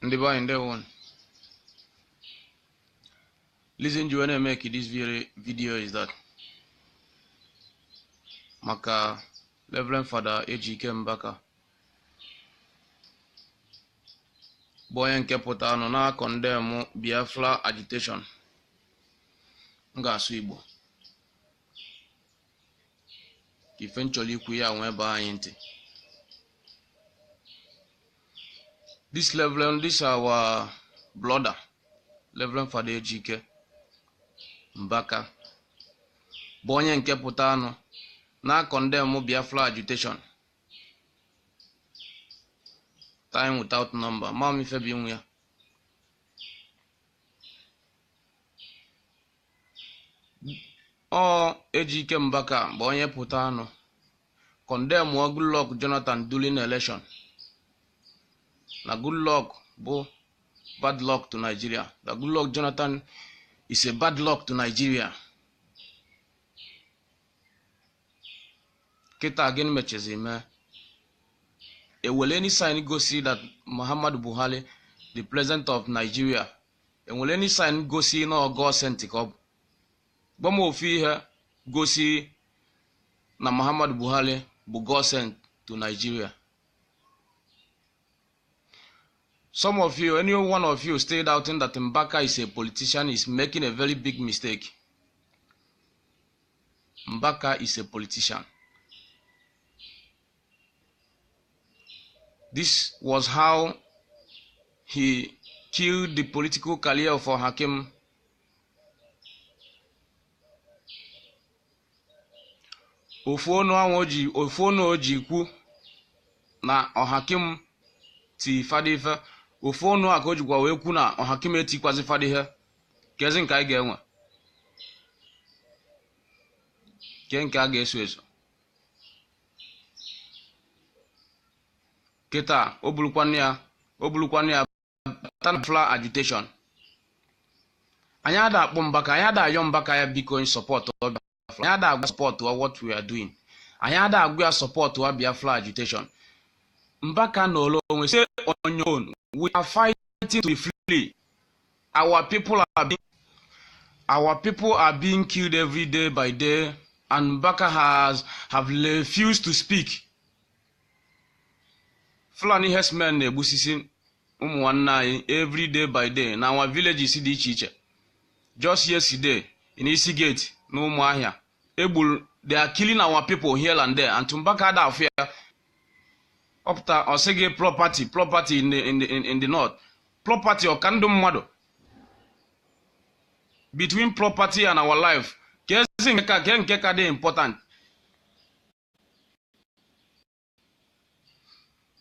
ndị be anyị ndewo reason m ji wee na-e make this video is that maka Reverend Fada Ejike Mbaka bụ onye nke pụta nọ na-a condemn Biafra agitation m ga-asụ Igbo ka ife m chọrọ ikwu ya wee baa anyị ntị this our brother reverend fada ejike mbaka bụ onye nke pụtanụ na-a condemn biafra agitation time without number ma m ife bụ iwe ya ọ Ejike Mbaka bụ onye pụtanụ kọndemụọ Goodluck Jonathan during election na Goodluck bụ bad luck to Nigeria that Goodluck Jonathan is a bad luck to Nigeria kịta gịnị mechezi mee enwere any sign gosi that Muhammadu Buhari the president of Nigeria enwere any sign gosi na ọ god sent ka ọ bụ gwa m ofu ihe gosi na muhammadu buhari bụ god sent to nigeria some of you any one of you still doubting that mbaka is a politician is making a very big mistake mbaka is a politician This was how he killed the political career of Ọhakim. ofu ọnụ ahụ ofu ọnụ o ji kwu na ọhakim ti fada ife ofu ọnụ a ka o jikwa wee kwu na ọhakim etikwazi fada ihe kezi nke anyị ga-enwe ke nke a ga-eso eso kịta o burukwanụ ya o burukwanụ ya bata na Biafra agitation anyị ada akpọ Mbaka anyị ada ayọ Mbaka ya biko anyị sọpọtụọ Biafra anyị ada agwa sọpọtụọ what we are doing anyị ada agwa ya sọpọtụọ Biafra agitation Mbaka nọlọ onwe stay on your own we are fighting fighting to be free. Our people are being our people are being killed every day by day, and Baka has have refused to speak. Fulani herdsmen na-egbusisi ụmụ nwanne anyị every day by day na our villages dị iche iche. Just yesterday in Isi Gate na Umuahia, egburu they are killing our people here and there, and Tumbaka ada afụ ya ọ pụta ọ sị gị property property in the, in the, in the north property ọ ka ndụ mmadụ between property and our life kezi nke ke nke ka dị important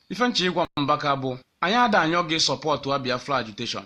ife m chọ ịgwa mbaka bụ anyị ada ayọ gị sọpọtụa Biafra agitation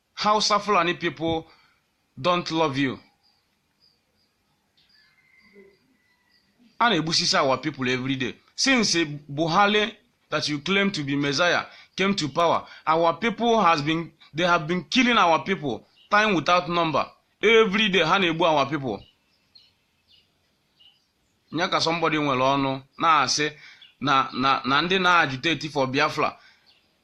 Hausa Fulani people don't love you. Ha na-egbusisi our people every day. Since Buhari that you claim to be Messiah came to power, our people has been they have been killing our people time without number. Every day ha na-egbu our people. Nya ka somebody nwere ọnụ na-asị na na na ndị na-agitate for Biafra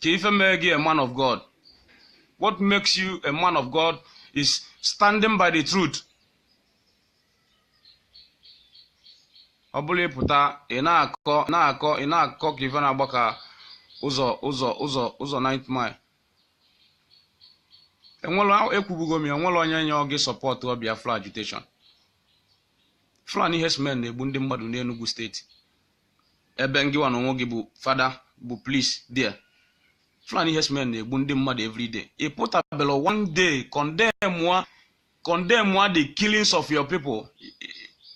kee ife mee gị a man of god what makes you a man of god is standing by the truth ọ bụrọ ịpụta ị na-akọ ị na-akọ ị na-akọ ka ife na-agba ka ụzọ ụzọ ụzọ ụzọ 9th mile enwere ekwubugo m ya enwere onye na-ayọ gị sọpọtụọ biafra agitation fulani herdsmen na-egbu ndị mmadụ n'enugu steeti ebe ngịwa n'onwe gị bụ fada bụ priest there Fulani herdsmen na-egbu ndị mmadụ everyday ị pụtabela one day condemn condemn the killings of your people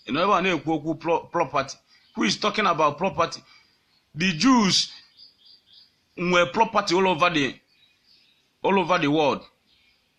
ị nọ ebe a na-ekwu okwu property who is talking about property the Jews nwere property all over the all over the world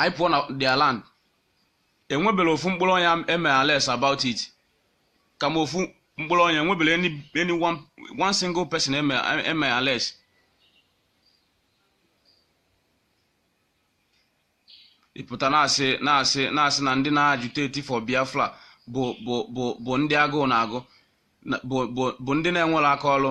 anyị pụọ na their land enwebere ofu mkpụrụ onye eme arrest about it kama ofu mkpụrụ onye enwebere any, any one, one single person eme eme arrest ịpụta na-asị na-asị na-asị na ndị na-agitate for biafra bụ bụ bụ bụ ndị agụụ na-agụ na- bụ bụ bụ ndị na-enwere aka ọrụ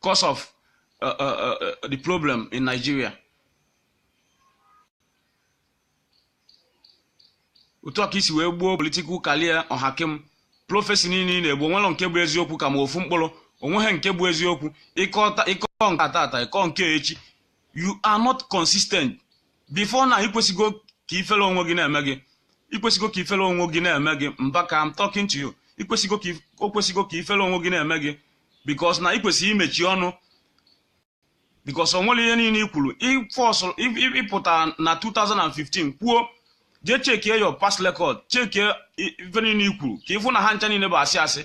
cause of uh, uh, uh, the problem in Nigeria otu a ka i si wee gbuo political career ọhakim prọfesi niile ị na-ebu onwere nke bụ eziokwu ka ma ofu mkpụrụ onweghị nke bụ eziokwu ịkọ nke a tata ịkọ nke echi you are not consistent before na ikwesịgo ka ifere onwe gị na-eme gị ikwesịgo ka ifere onwe gị na-eme gị Mbaka I'm talking to you ikwesịgo ka if- o kwesịgo ka ifere onwe gị na-eme gị because na ikwesị imechi ọnụ because o nwere ihe niile i kwuru ịfọsụrụ ịpụta na 2015 kwuo jee chekie your past record chekie i- ife niile i kwuru ka ịfụ na ha ncha niile bụ asị asị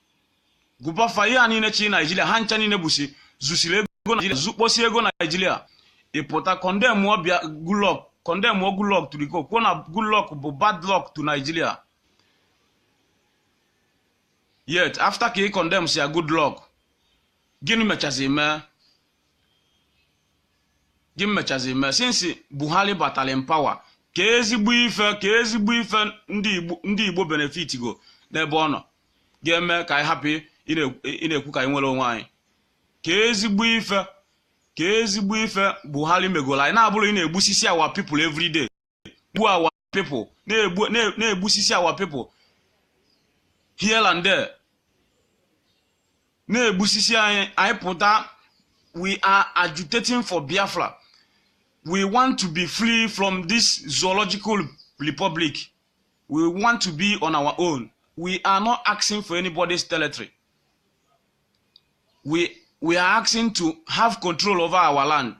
gụbafa ihe a niile chị naijiria ha ncha niile bụsi zusiri ego naijiria zukposi ego naijiria ịpụta kọndemụ ọbịa Goodluck kọndemụọ Goodluck turiko kwuo na Goodluck bụ bad luck to naijiria yet after ka ị kọndemsịa Goodluck gịnị mechazi mee gịnị mechazi mee since buhari batara in power kee ezigbo ife kee ezigbo ife ndị igbo benefit go n'ebe ọ nọ ga-eme ka anyị hapụ ịna-ekwu ka anyị nwere onwe anyị kee ezigbo ife kee ezigbo ife Buhari megolo anyị na-abụrọ ịna-egbusisi our people everyday gbuo our people na-egbusisi our people here and there na-egbusisi anyị anyị pụta we are agitating for Biafra we want to be free from this zoological republic we want to be on our own we are not asking for anybody's territory we we are asking to have control over our land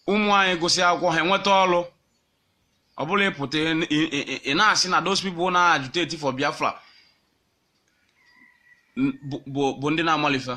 ụmụ anyị gụsị akwụkwọ ha enweta ọrụ ọ bụla ị pụta ị- ị- ị- ị na-asị na those people na-agitate for biafra n- bụ- bụ bụ ndị na-amarọ ife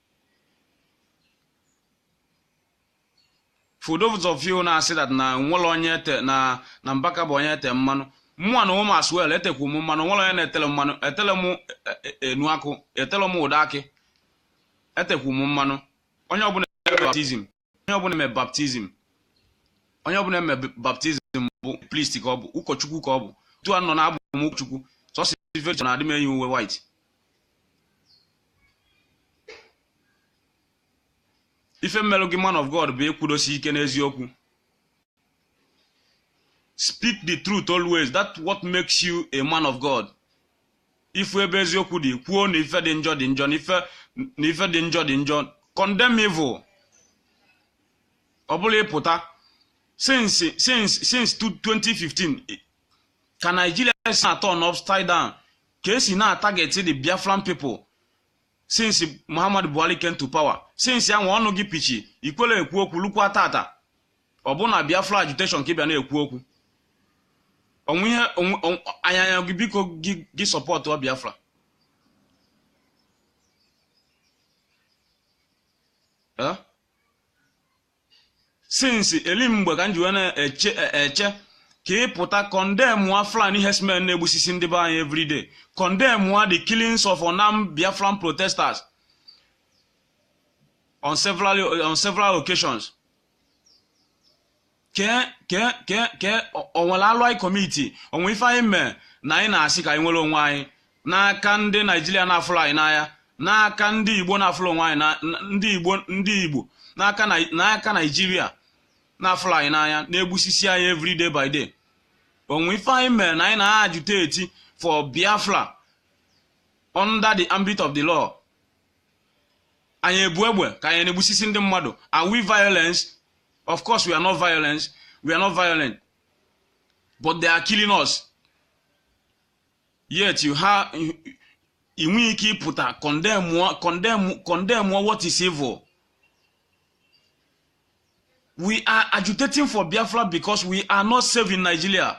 for those of you na-asị that na nwere onye ete na na mbaka bụ onye ete mmanụ mụnwa nụnwa as well etekwu m mmanụ nwere onye na-etele mmanụ etele m enu akụ etele m ude akị etekwu m mmanụ onye ọbụla baptism onye ọbụla eme baptism onye ọbụla eme baptism bụ priest ka ọ bụ ụkọchukwu ka ọ bụ otu a nọ na abụ m ụkọchukwu sọsị vejọ na adị m eyi uwe white ife melu gị man of god bụ ịkwụdosi ike n'eziokwu speak the truth always that what makes you a man of God ị fụ ebe eziokwu dị kwuo na ife dị njọ dị njọ na ife na ife dị njọ dị njọ condemn evil ọ bụla ị pụta since since since 2015 i- ka Nigeria si na turn upside down ka e si na target the Biafran people since Muhammad Buhari came to power since ya nwa ọnụ gị pịchi i kwerọ ekwu okwu lukwa tata ọ bụ na Biafra agitation ka ị bịa na-ekwu okwu o nwe ihe a na-ayọ gị biko gị supportuo Biafra since eli mgbe ka m ji wee na-eche e, eche ka ị pụta condemnụa Fulani herdsmen na-egbusisi ndị be anyị everyday condemnụa the killings of unarmed Biafran protesters on several on several occasions kee kee kee kee o nwere alụ anyị commit o nwe ife anyị mee na anyị na-asị ka anyị nwere onwe anyị n'aka ndị Nigeria na-afụrọ anyị n'anya n'aka ndị igbo na-afụrọ onwe anyị ndị igbo ndị igbo n'aka Nigeria na-afụrọ anyị n'anya na-egbusisi anyị every day by day o nwe ife anyị mere na anyị na-agitate for biafra under the ambit of the law anyị ebu egbe ka anyị na-egbusisi ndị mmadụ are we violence of course we are not violence we are not violent but they are killing us yet you have ị nweghị ike ịpụta condemn what is evil we are agitating for biafra because we are not safe in nigeria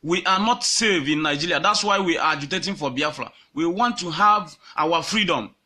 we are not safe in nigeria that's why we are agitating for biafra we want to have our freedom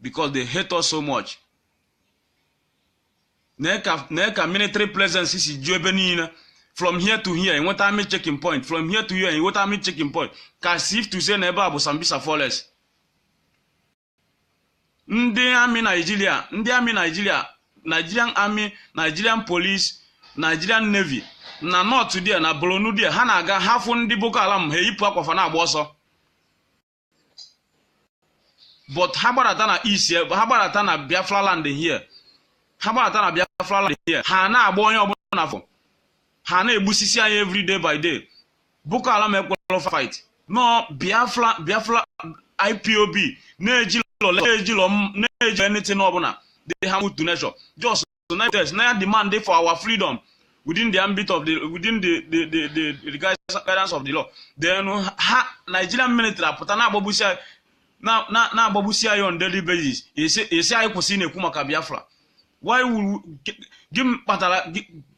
because they hate us so much nee ka military presence si ju ebe niile from here to here ị nweta army checking point from here to here ị nweta army checking point ka as if to say na ebe a bụ Sambisa forest ndị army nigeria ndị army nigeria nigerian army nigerian police nigerian navy na north there na borno there ha na-aga ha fụ ndị boko haram ha eyipụ akwa fa na-agba ọsọ but ha gbadata na east ha gbadata na biafra land here ha gbadata na biafra land here ha na-agba onye ọbụla ha fụ ha na-egbusisi anyị every day by day boko haram ekwelọ fight no biafra biafra ipob na-ejilọ na-ejilọ na-eji anything ọbụla they have to nature just na-ademand for our freedom within the ambit of the within the the the, the, the guidance of the law then ha Nigerian military apụta na-agbagbusi na-agbagbusi anyị on daily basis ị sị anyị kwụsị na-ekwu maka Biafra why would gịnị kpatara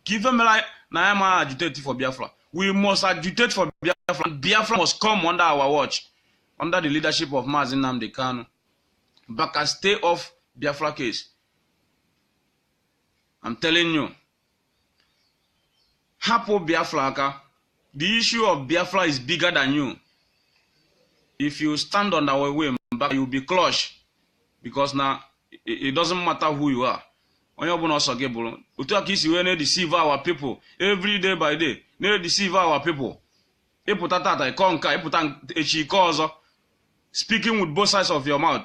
ka ife mere na anyị ama agitate for Biafra we must agitate for Biafra Biafra must come under our watch under the leadership of Mazi Nnamdi Kanu Mbaka stay off Biafra case I'm telling you hapụ Biafra aka the issue of Biafra is bigger than you if you stand on our way Mbaka you'll be crushed because na it doesn't matter who you are onye ọbụla ọ sọ gị bụrụ otu a ka ị si wee na-edeceive our people every day by day na-edeceive our people ị pụta tata ị kọọ nke a ị pụta echi ị kọọ ọzọ speaking with both sides of your mouth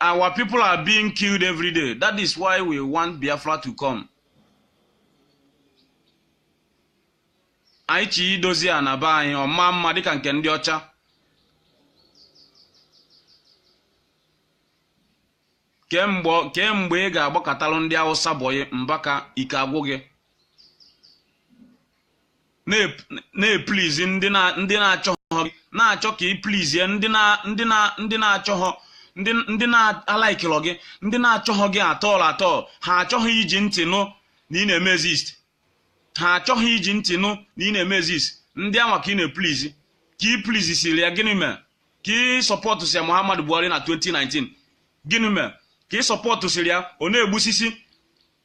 Our people are being killed every day. That is why we want Biafra to come. Anyị chọ idozi ana be anyị ọ maa mma dịka nke ndị ọcha. Kee mgbe ị ga-agbakatalụ ndị Hausa bọyị Mbaka ike agwụ gị. na-eplizi ndị na-achọhọ gị na-achọ ka ị plizie ndị na-achọhọ ndị na-alaikilọ gị ndị na-achọhọ gị at all at all ha achọghị iji ntị nụ na ị na-eme exist ha achọghị iji ntị nụ na ị na-eme exist ndị anwa ka ị na-eplizi ka ị plizisiri ya gịnị mee ka ị sọpọtụsịa Muhammadu Buhari na 2019 gịnị mee ka ị sọpọtụsịrị ya ọ na-egbusisi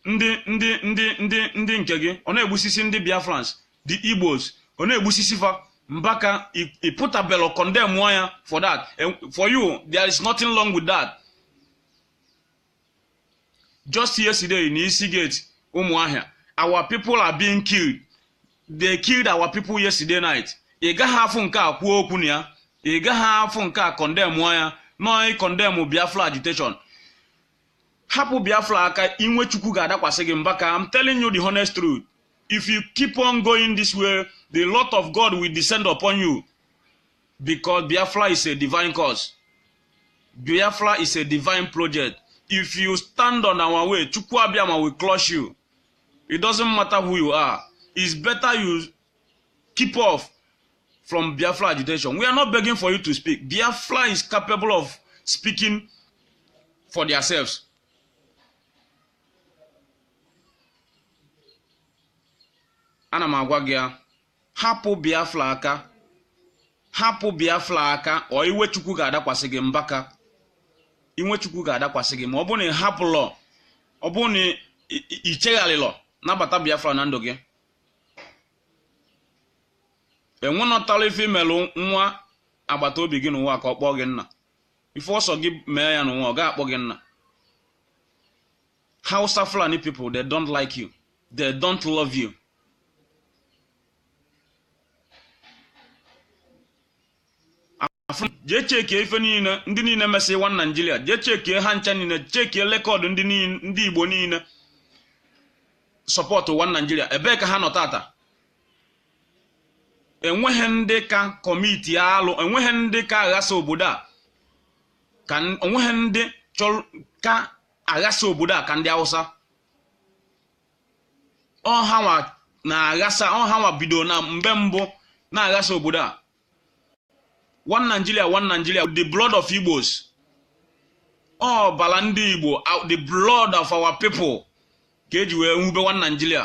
ndị nke gị ọ na-egbusisi ndị biafrans the igbos ọ na-egbusisi fa mbaka ị pụtabelọ condemn ya for that for you there is nothing wrong with that just yesterday na isi gate ụmụahịa our people are being killed they killed our people yesterday night ị gaghị afụ nke a kwuo okwu na ya ị gaghị afụ nke a condemn ya nọọ condemn biafra agitation hapụ biafra aka inwe chukwu ga-adakwasị gị mba ka I'm telling you the honest truth if you keep on going this way the lot of God will descend upon you because biafra is a divine cause biafra is a divine project if you stand on our way chukwu abịama will crush you it doesn't matter who you are it's better you keep off from Biafra agitation. We are not begging for you to speak. Biafra is capable of speaking for themselves. ana m agwa gị ya hapụ biafra aka hapụ biafra aka or iwe Chukwu ga-adakwasị gị mbaka iwe Chukwu ga-adakwasị gị ma ọ bụrụ na ị hapụlọ ọ bụrụ na i- i- i chegharịlọ nabata biafra na ndụ gị enwenọtala ife i melụ nwa agbata obi gị n'ụwa ka ọ kpọọ gị nna ife ọ sọ gị mee ya n'ụwa ọ ga-akpọ gị nna hausa fulani people they don't like you they don't love you jee chekie ife niile ndị niile mesị one Nigeria jee chekie ha ncha niile chekie rekọdụ ndị niile- ndị igbo niile sọpọtụ one Nigeria ebee ka ha nọ tata enweghị ndị ka commit alụ enweghị ndị ka aghasa obodo a ka n- o nweghị ndị chọrọ ka a ghasa obodo a ka ndị hausa ọ hanwa na-aghasa ọ hanwa bido na mgbe mbụ na-aghasa obodo a one Nigeria one Nigeria the blood of Igbos ọbala ndị Igbo the blood of our people ka e ji wee wube one Nigeria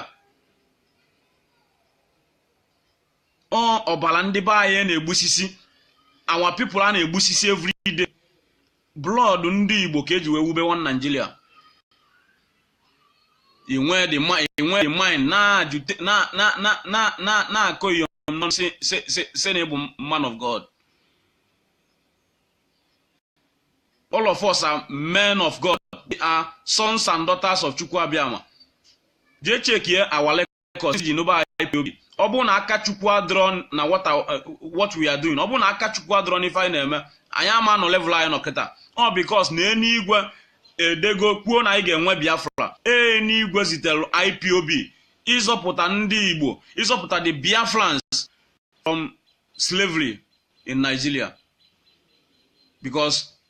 ọ ọbala ndị be anyị a na-egbusisi our people a na-egbusisi every day blood ndị Igbo ka e ji wee wube one Nigeria i nwee the mind na-akọ iyo nọ sị na ị bụ man of God all of us are men of God they are sons and daughters of Chukwu Abịama jee chekie our Pentikọst iji nụba IPOB ọ bụrụ na aka Chukwu adịrọ na what we are doing ọ bụrụ na aka Chukwu adịrọ n'ife anyị na-eme anyị ama anọ level anyị nọ kịta ọ because na enigwe edego kwuo na anyị ga-enwe Biafra enigwe zitere IPOB ịzọpụta ndị Igbo ịzọpụta the Biafrans from slavery in Nigeria because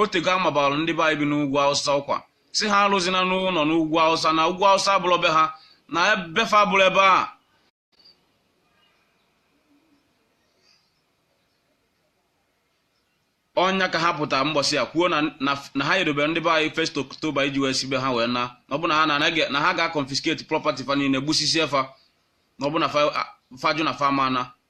otego a mabalụ ndị be anyị bi n'ugwu awụsa ọkwa sị ha alụzina ụnọ n'ugwu awụsa na ugwu awụsa abụrọ be ha na ebe fa abụrọ ebe a ọ nya ka ha pụta mbọsị a kwuo na ha edobere ndị be anyị first October iji wee si be ha wee na ọ bụ na ha na ha ga-confiscate property fa niile gbusisie fa na ọ bụ na fa jụ na fa ama ana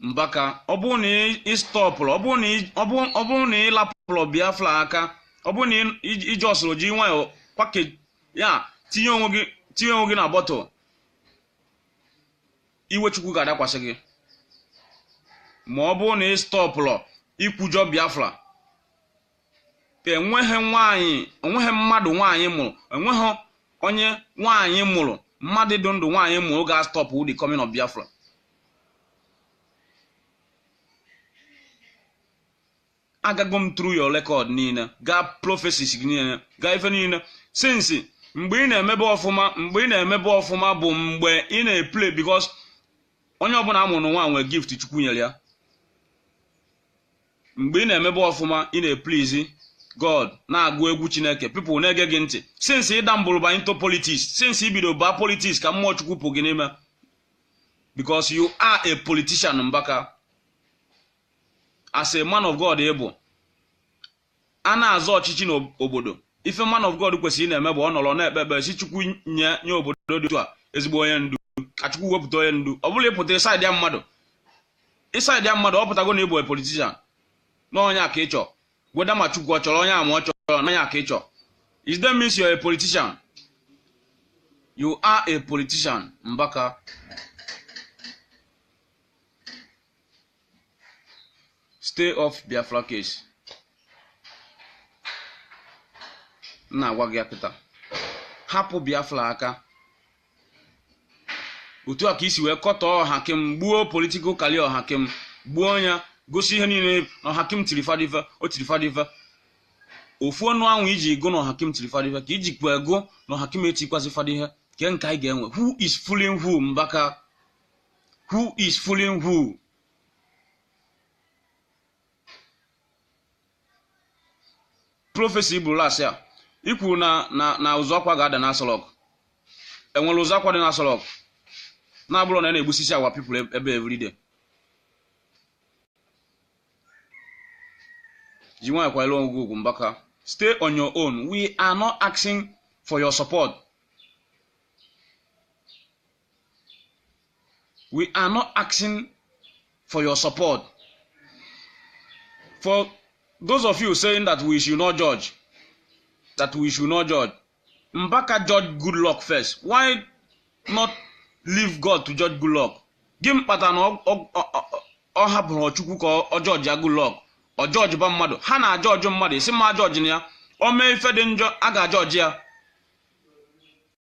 mbaka ọ bụrụ na ị stọpụrọ ọ bụrụ na ị lapụrọ biafra aka ọ bụrụ na iji ọsụrụ ji nwayọọ kwake ya tinye onwe gị tinye onwe gị na bottle iwe chukwu ga-adakwasị gị ma ọ bụrụ na ị stọpụrọ ikwujọ biafra enweghị nwaanyị enweghị mmadụ nwaanyị mụrụ enweghị onye nwaanyị mụrụ mmadụ dị ndụ nwaanyị mụrụ ga-stop the coming of Biafra agago m through your record niile gaa prophecies gị niile gaa ife niile since mgbe ị na-emebe ọfụma mgbe ị na-emebe ọfụma bụ mgbe ị na-epray because onye ọbụla a mụrụ n'ụwa nwee gift chukwu nyere ya mgbe ị na-emebe ọfụma ị na-epraise god na-agụ egwu chineke people na-ege gị ntị since ị dabble ba into politics since i bido baa politics ka mmụọ chukwu pụ gị n'ime because you are a politician mbaka as a man of god ị bụ a na-azọ ọchịchị n'obodo ife man of God kwesịrị na-eme bụ ọ nọrọ na-ekpe ekpere sị Chukwu nye nye obodo dị otu a ezigbo onye ndu ka Chukwu wepụta onye ndu ọ bụla ị pụta ị saịdịa mmadụ ị saịdịa mmadụ ọ pụtago na ị bụ politician na onye a ka ị chọ whether ma Chukwu ọ chọrọ onye a ma ọ chọrọ na onye a ka ị chọ is that means you're a politician you are a politician Mbaka stay off biafra case m na-agwa gị ya kịta hapụ biafra aka otu a ka i si wee kọtọọ Ohakim gbuo political career Ohakim gbuo ya gosi ihe niile na Ohakim tiri fada ife o tiri fada ife ofu ọnụ anwa i ji gụ na Ohakim tiri fada ife ka i jikwa gụ na Ohakim etikwazi fada ife kee nke anyị ga-ewe who is fooling who mbaka who is fooling who prophecy i buru last year i kwuru na na na ụzụ akwa ga-ada na Aso Rock e nwere ụzụ akwa dị na Aso Rock na-abụrọ na ya na-egbusisi our people ebe everyday ji nwayọ kwanyere onwe gị ugwu mbaka stay on your own we are not asking for your support we are not asking for your support for those of you saying that we should not judge that we should not judge mbaka judge Goodluck first why not leave god to judge Goodluck gịnị kpata na ọ- ọ- ọ- ọ hapụrọ chukwu ka ọ- ọ jọjia Goodluck ọ jọjiba mmadụ ha na-ajọji mmadụ ị sị m ajọjina ya o mee ife dị njọ a ga-ajọji ya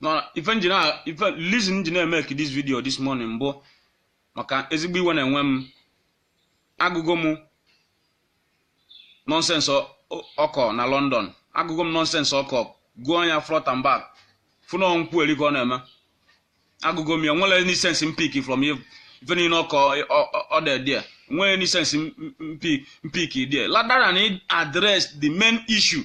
na ife m ji na ife reason m ji na-emeki this video this morning bụ maka ezigbo iwe na-ewe m agụgo m nonsense ọ kọ na London agụgo m nonsense ọ kọ gụọ ya front and back fụ na ọ nkwueri ka ọ na-eme agụgo m ya enwerọ any sense m pick from ife niile ọ kọrọ there enwerọ any sense m pick there rather than address the main issue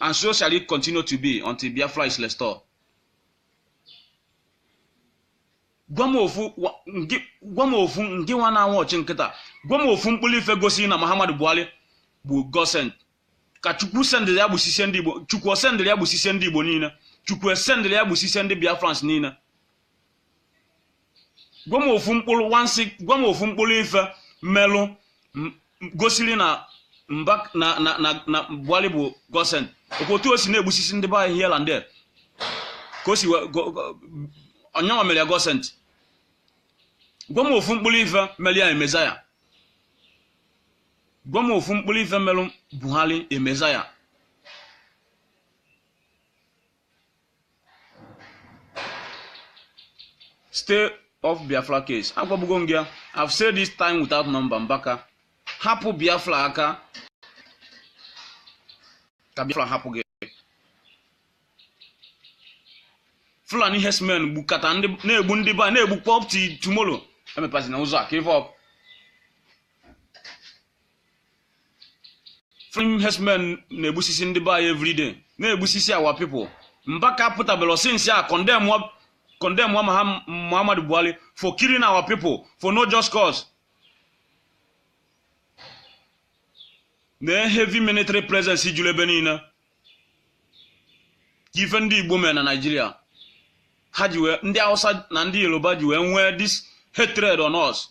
And so shall it continue to be until Biafra is restored. gwa m ofu wa- ngị- gwa m ofu ngị nwa na-anwụ ọchị nkịta gwa m ofu mkpụrụ ife gosi na Muhammadu Buhari bụ God sent ka chukwu sendịrị ya gbusisie ndị igbo chukwu o sendịrị ya gbusisie ndị igbo niile chukwu esendịrị ya gbusisie ndị biafrans niile gwa m ofu mkpụrụ wansị gwa m ofu mkpụrụ ife melụ m- m- gosiri na mba na na na na buhari bụ God sent ọkwa otu o si na-egbusisi ndị be anyị here and there ka o si wee go- go- ọ ya nwa mere ya God sent gwa m ofu mkpụrụ ife mere ya a messiah gwa m ofu mkpụrụ ife merụ buhari a messiah stay off biafra case agwabugo m gị ya i've said this time without number mbaka hapụ biafra aka ka biafra hapụ gị fulani herdsmen gbukata na-egbu ndị be anyị na-egbukwa up till tomorrow emepazina ụzọ a ka ife ọkụ Fulani herdsmen na-egbusisi ndị be anyị everyday na-egbusisi our people Mbaka pụtabelo since ya condemn wa- condemn wa Maham- Muhammadu Buhari for killing our people for no just cause na heavy military presence julu ebe niile ke ife ndị Igbo mere na Naịjirịa ha ji wee ndị Hausa na ndị Yoruba ji wee nwee this hatred on us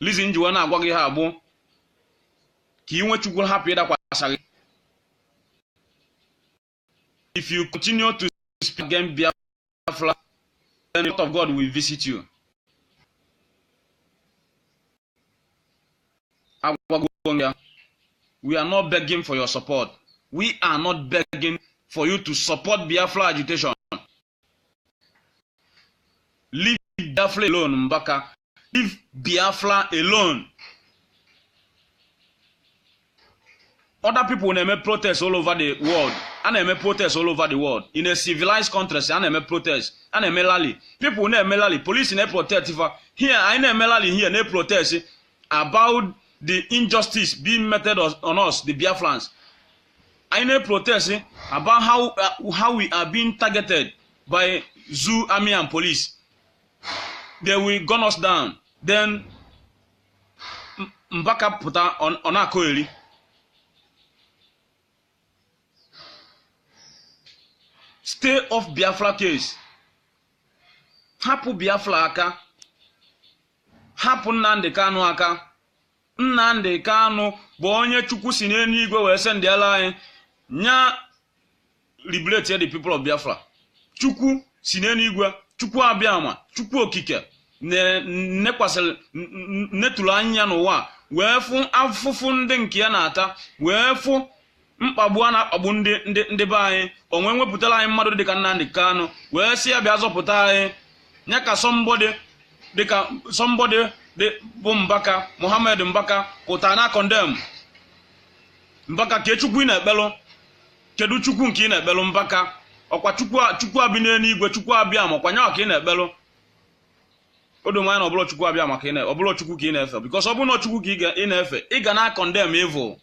reason m ji wee na-agwa gị ihe a bụ ka iwe chukwu hapụ ịdakwasa gị if you continue to speak against Biafra then the wrath of God will visit you agwagwo ya we are not begging for your support we are not begging for you to support Biafra agitation leave biafra alone mbaka leave biafra alone other people na-eme protest all over the world a na-eme protest all over the world in a civilized countries a na-eme protest a na-eme rally people na-eme rally police na-protest fa here anyị na-eme rally here na-protest about the injustice being meted on us the biafrans anyị na-protest about how, uh, how we are being targeted by zoo army and police they will gun us down then M- mbaka pụta ọ- ọ na-akọ eri stay off biafra case hapụ biafra aka hapụ nnamdị kanụ aka Nnamdị Kanụ bụ onye Chukwu si n'elu igwe wee sendịala anyị nya liberate the people of Biafra Chukwu si n'elu igwe Chukwu abịama Chukwu okike nekwasịrị netụrụ anya n'ụwa wee fụ afụfụ ndị nke ya na-ata wee fụ mkpagbu a na-akpagbu ndị ndị ndị be anyị o wee wepụtara anyị mmadụ dịka Nnamdi Kanu wee sị ya bịa zọpụta anyị ya ka somebody dịka somebody bụ Mbaka Mohammed Mbaka pụta na condemn Mbaka ke Chukwu ị na-ekpelụ kedu Chukwu nke ị na-ekpelụ Mbaka ọkwa Chukwu Chukwu bi n'eluigwe Chukwu abịama ọkwa nyawa ka ị na-ekpelụ o do m anya na ọ bụlọ Chukwu abịama ka ị na ọ bụlọ Chukwu ka ị na-efe because ọ bụrụ na Chukwu ka ị na-efe ị ga na condemn evil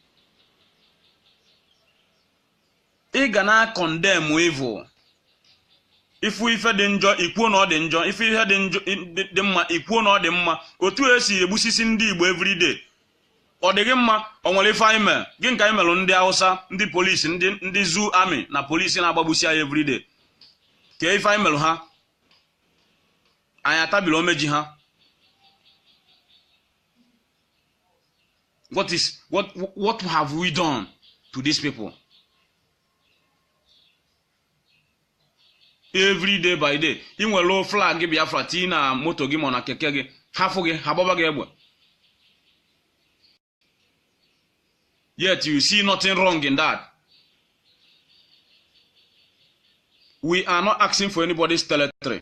ị ga na-acondemn evil ị fụ ife dị njọ i kwuo na ọ dị njọ ị fụ ihe dị njọ dị mma i kwuo na ọ dị mma otu e si egbusisi ndị Igbo everyday ọ dịghị mma o nwere ife anyị mere gịnị ka anyị mere ndị Hausa ndị police ndị ndị zoo army na police na-agbagbusi anyị everyday ke ife anyị mere ha anyị atabiri ome ji ha what is what what have we done to these people every day by day i welu flag biafra tii na moto gị ma na keke gị ha fụ gị ha gbaba gị egbe yet you see nothing wrong in that we are not asking for anybody's territory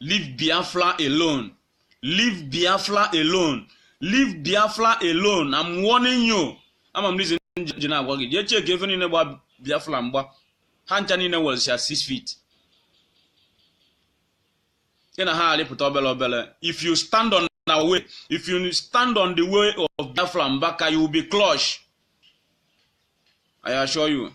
leave biafra alone leave biafra alone leave biafra alone i'm warning you ama m reason ji na-agwa gị jee cheki efe niile gba biafra mgba ha ncha niile welsia 6 feet ị na ha arịpụta obere obere if you stand on na way if you stand on the way of Biafra Mbaka you will be clutch I assure you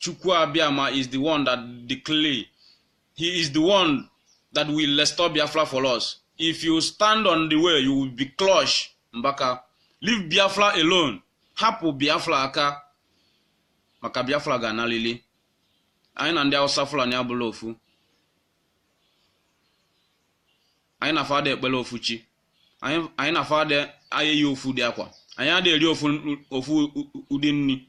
Chukwu Abiama is the one that declare. He is the one that will restore Biafra for us. If you stand on the way, you will be crushed, Mbaka. Leave Biafra alone. Hapụ Biafra aka maka Biafra ga-analịlị. Anyị na ndị Hausa Fulani abụlọ ofu. Anyị na fa ada ekpele ofu chi. Anyị na fa ada eyi ofu ụdị akwa. Anyị ada eri ofu ụdị nni.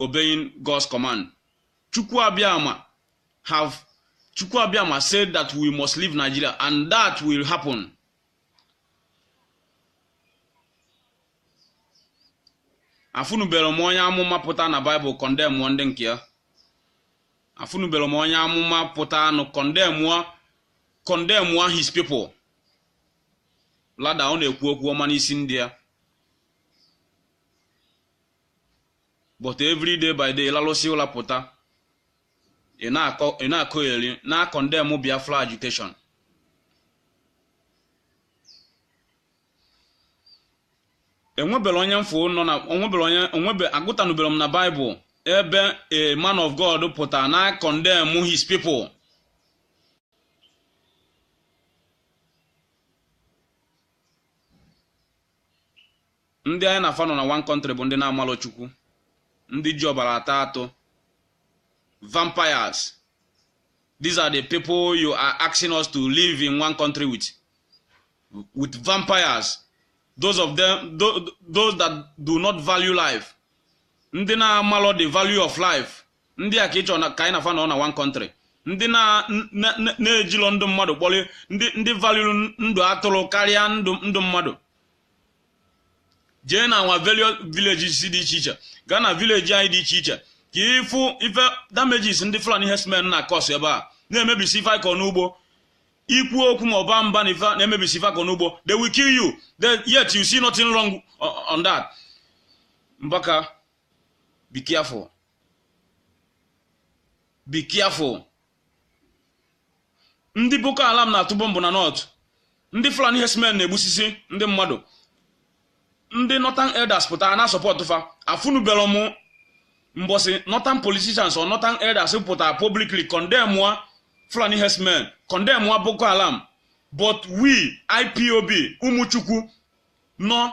obeying God's command. Chukwu Abiyama have Chukwu Abiyama said that we must leave Nigeria and that will happen. Afụnubelọ m onye amụma pụta na Bible condemn ndị nke ya. Afụnubelọ m onye amụma pụta na condemn condemn his people. Rather ọ na-ekwu okwu ọma n'isi ndị ya. but every day by day ị lalụsịa ụla pụta ị na-akọgheri na condemn Biafra agitation enwebelọ onye m fụ nọ na onwebere onye onwebe agụtanubelọ m na Bible ebe a man of God pụtara na condemn his people Ndị anyị na fa nọ na one country bụ ndị na-amalọ Chukwu, ndị ji ọbara ata atụ, vampires. These are the people you are asking us to live in one country with, with vampires. Those of them, tho- those that do not value life. Ndị na-amalọ the value of life. Ndị a ka ị chọrọ na- ka anyị na fa nọ na one country. Ndị na- na- na- na-ejilọ ndụ mmadụ kpọrọ ndị ndị value ndụ atụrụ karịa ndụ ndụ mmadụ. jee na our various villages dị iche iche gaa na village anyị dị iche iche ka ị fụ ife damages ndị Fulani herdsmen na cause ebe a na-emebisi ife a kọ n'ugbo i kwuo okwu ma ọ baa mba na ife na-emebisi ife a kọ n'ugbo they will kill you yet you see nothing wrong on that Mbaka be careful be careful ndị boko haram na-atụ bọmbụ na north ndị fulani herdsmen na-egbusisi ndị mmadụ ndị northern elders pụtara na support fa afụnubelọ mụ mbọsị northern politicians or northern elders pụtara publicly condemn wa fulani herdsmen condemn wa boko haram but we ipob ụmụ Chukwu nọ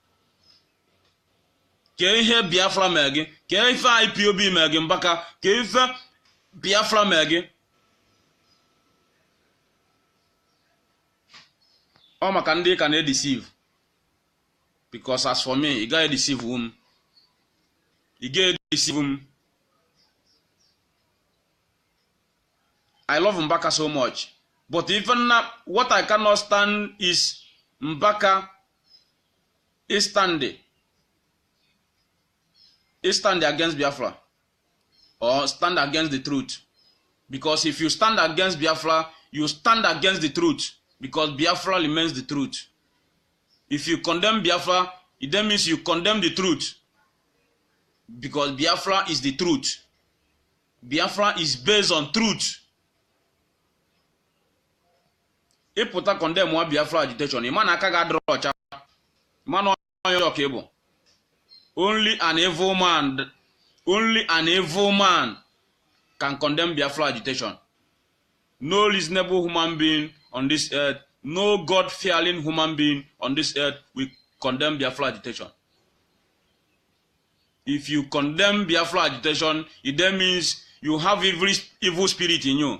kee ihe biafra mee gị kee ife ipob mee gị mbaka kee ife biafra mee gị ọ maka ndị ka na-edeceive because as for me ị gaghị edeceive m ị gaghị edeceive m i love mbaka so much but even now what i cannot stand is mbaka ịstandị ịstandị against Biafra or stand against the truth because if you stand against Biafra you stand against the truth because Biafra remains the truth if you condemn Biafra it then means you condemn the truth because Biafra is the truth Biafra is based on truth ị pụta condemn wa biafra agitation ị ma na aka gị adịrọ ọcha ị ma na onye ọjọọ ka ị bụ only an evil man only an evil man can condemn biafra agitation no reasonable human being on this earth no god fearing human being on this earth will condemn biafra agitation if you condemn biafra agitation it then means you have evil, evil spirit in you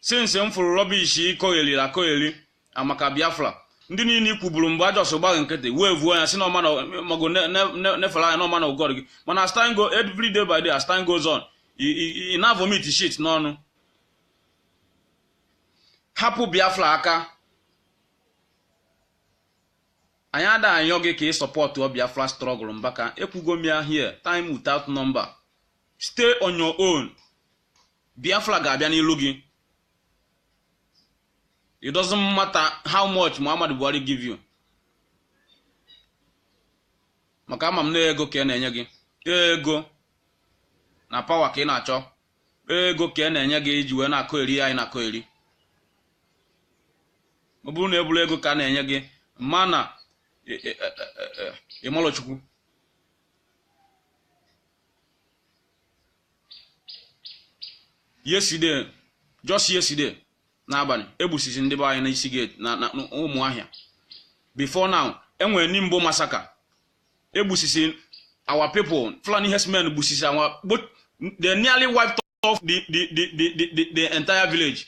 since m fụrụ rubbish ị kọgheri akọgheri a maka biafra ndị niile ị kwuburu mgbe a just gba gị nkịtị wee vuo ya sị na ọ man of god ne- ne- ne- nefere anya na ọ man of god mana as time go every day by day as time goes on ị- ị ị na vomit shit n'ọnụ hapụ biafra aka anyị ada ayọ gị ka ị supportụ biafra struggle mbaka ekwugo m ya here time without number stay on your own Biafra ga-abịa n'ilu gị it doesn't matter how much Muhammadu Buhari give you maka ama m na ego ka e na-enye gị ego na power ka ị na-achọ ego ka e na-enye gị ị ji wee na-akọgheri anyị na-akọgheri ọ bụrụ na eburu ego ka a na-enye gị mana ị malọ chukwu yesterday just yesterday n'abalị egbusisi ndị be anyị n'isi gate na na umuahia before now enwere nimbo massacre egbusisi our people fulani herdsmen gbusisi our they nearly wiped off the the the the the, the entire village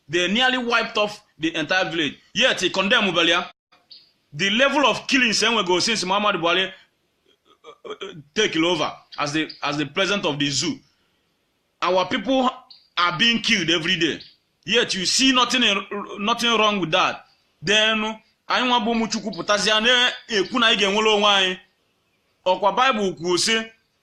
they nearly wiped off the entire village yet ị condemn belị ya the level of killings enwego eh, since muhammad buhari eh, eh, take over as the as the president of the zoo our people are being killed every day yet you see nothing nothing wrong with that then anyị nwa bụ ụmụ chukwu pụtazịa na-ekwu na anyị ga-enwere onwe anyị ọkwa bible kwuo sị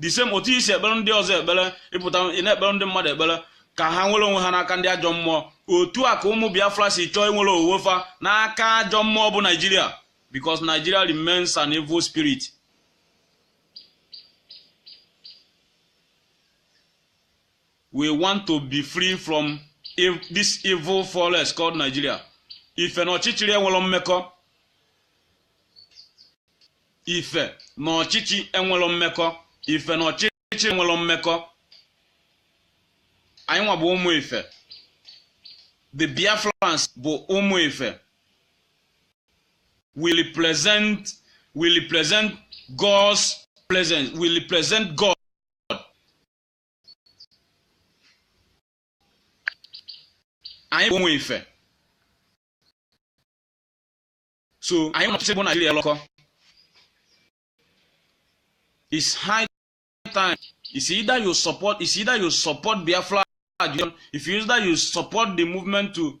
the same otu i si ekpere ndị ọzọ ekpere ị pụta ị na-ekpere ndị mmadụ ekpere ka ha nwere onwe ha n'aka ndị ajọ mmụọ otu a ka ụmụ biafra si chọọ inwere onwe fa n'aka ajọ mmụọ bụ naijiria because nigeria remains an evil spirit we want to be free from ev- this evil forest called nigeria ife na ọchịchịrị enwerọ mmekọ ife na ọchịchị enwelọ mmekọ ife na ọchịchị enwelọ mmekọ anyị nwa bụ ụmụ ife the biafrans bụ ụmụ ife we represent we represent god's presence we represent god anyị bụ ụmụ ife so anyị nwa na ọchịchị bụ naijiria nọkọ it's high time it's either you support it's either you support biafra if you it's either you support the movement to